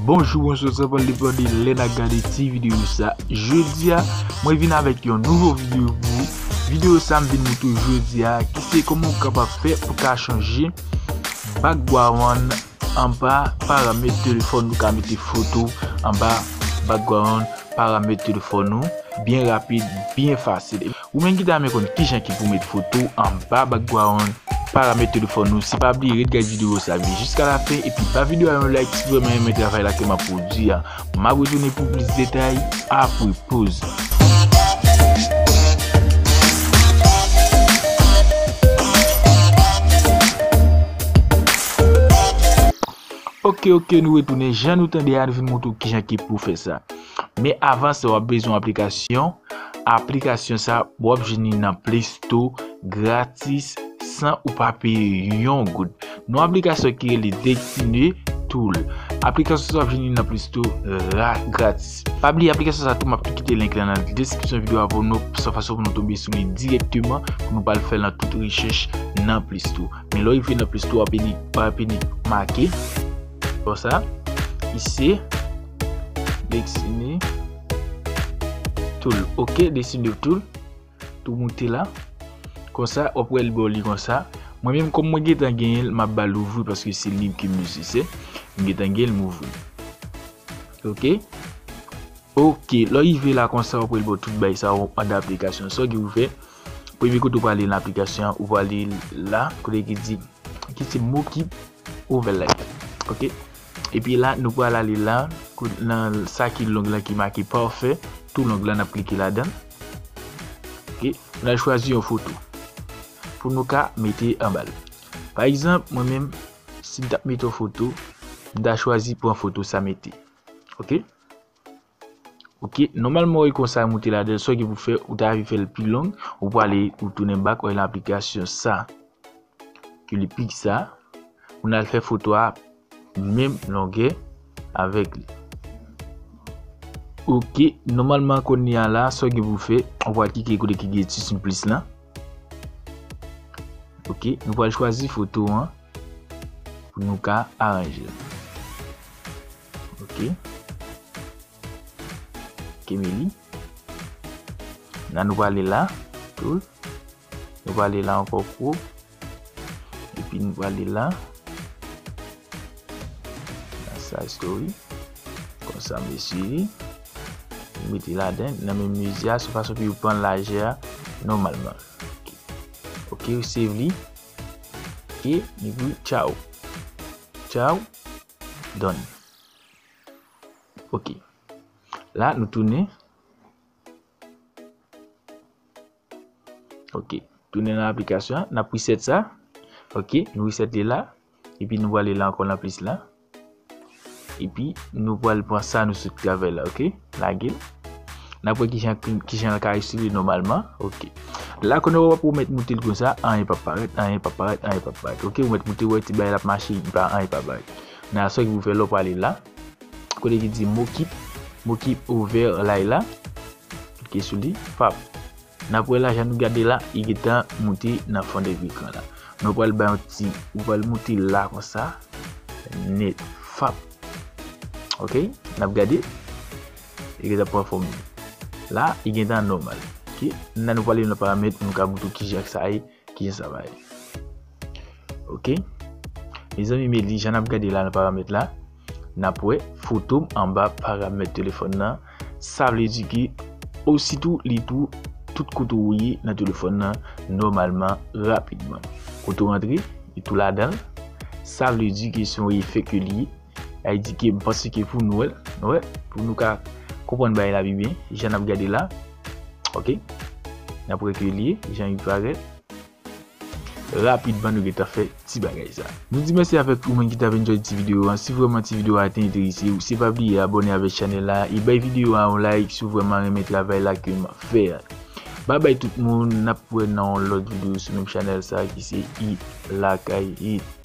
Bonjou bonjou sa pwal de pwal de lè na gade ti videyo sa Jodi a mwen vin avèk yon nouvo videyo pou ou Videyo sa m vin mwen tou jodi a ki se kòman ou kapap fè pou ka chanje Bak gwa wan anba paramèt telefòn ou ka mete foto anba Bak gwa wan paramèt telefòn ou Byen rapid byen fasil Ou menm ki ta renmen konn kijan ki pou met foto anba background paramèt telefòn ou se pa bliye ret gad video sa vin jiska la fen epi ba video a yon like si vreman renmen travay la ke map pwodwi a map retounen pou plis detay apre poz la. Ok ok nou retounen jan nou tande a nou vin montre w kijan ki pou fè sa. Men avan sa wap bezwen aplikasyon, aplikasyon sa wap jwenn li nan play store gratis san ou pa peye yon goud. Nan aplikasyon ki rele Dexine tool, aplikasyon sa wap jwenn li nan play store gratis. Pa bliye aplikasyon sa tou map tou kite link la nan deskripsyon video a pou nou, san fason pou nou tonbe sou li direkteman pou nou pa al fè nan tout rechèch nan play store. Men lè w rive nan play store wap vini make, konsa, ise. Dessine tool ok dessine de tool tou moute la konsa wap wèl bò li konsa mwen menm kòm mwen getan genyen l map bal ouvri paske se lib ke m itilize m getan genyen l m ouvri l ok ok lè w rive la konsa wap wèl bò tout bagay sa yo andan aplikasyon sa w gen pou w fè Premye kote ou pral li nan aplikasyon an, ou pral li la kote ki di ki se mo ki ouvè la yo. Ok. Epi la nou pral ale la nan sa ki long la ki make pafè tou long la nap klike ladan. Ok. Nou al chwazi yon foto pou nou ka mete anba l. Pa egzanp mwen menm si m tap mete yon foto, m ta chwazi pran foto sa mete. Ok. Ok nòmalman oy konsa moute ladèl soke pou fè ou ta vi fèl pi long ou pwale ou tounen bak oy nan aplikasyon sa ke li pik sa ou nan fè foto a menm longè avèk li ok nòmalman koni a la soke pou fè ou pwale kike kote ki gen ti sin plis la ok nou pwale chwazi foto an pou nou ka aranjel. Ok Ok Meli Nan nou pale la Tou Nou pale la ankò kou Epi nou pale la Nan sa story Konsa mesye Nou mete la den Nan men mezi a sou fason pou yo pran lajè a Nòmalman Ok ou save li Ok Epi tchao Tchao Done. Ok. La nou tounen. Ok. Tounen nan aplikasyon. N ap reset sa. Ok. Nou reset li la. E pi nou wale la ankon nan plis la. E pi nou wale pran sa nou sot travay la. Ok. lage nap wè kijan kijan l ka respire nòmalman ok la kòne wè wap ou mèt moute l konsa anyen pap parèt anyen pap parèt anyen pap parèt ok ou mèt moute wè ti bagay la ap mache anyen pap parèt nan sa ki pou fè lè w prale la kote ki di mokip mokip ouvè lay la klike sou li pap Nap wè la jan nou gade la li gentan moute nan fond de ekran la nou pral bay yon ti ou pral moute la konsa net fap ok nap gade li gentan pran fòm li la li gentan nòmal ok nan nou pral ale nan paramèt nou ka moute kijan sa ye. Kijan sa va ye? Ok. Mezanmi Meli jan nap gade la nan paramèt la, nap wè foto m anba paramèt telefòn nan, sa vle di ke ositou li tou tout kote ou ye nan telefòn nan nòmalman rapidman. Kote ou rantre li tou ladan l, sa vle di ke se yon efè ke li ye. Sa vle di ke m panse ke pou nou, wè, pou nou ka konprann bagay la pi byen, jan n ap gade la, ok, n ap wè ke li ye, jan li parèt, rapidman nou gen tan fè ti bagay sa. Nou di mèsi avèk tout moun ki t ap enjoy ti videyo an. Si vrèman ti videyo a te enterese ou, se pa bliye abòne avèk chanèl la e bay videyo a yon like si w vrèman renmen travay la ke m ap fè a. Bye bye tout moun nap wè nan yon lòt video sou menm chanèl sa ki se Hit lakay hit.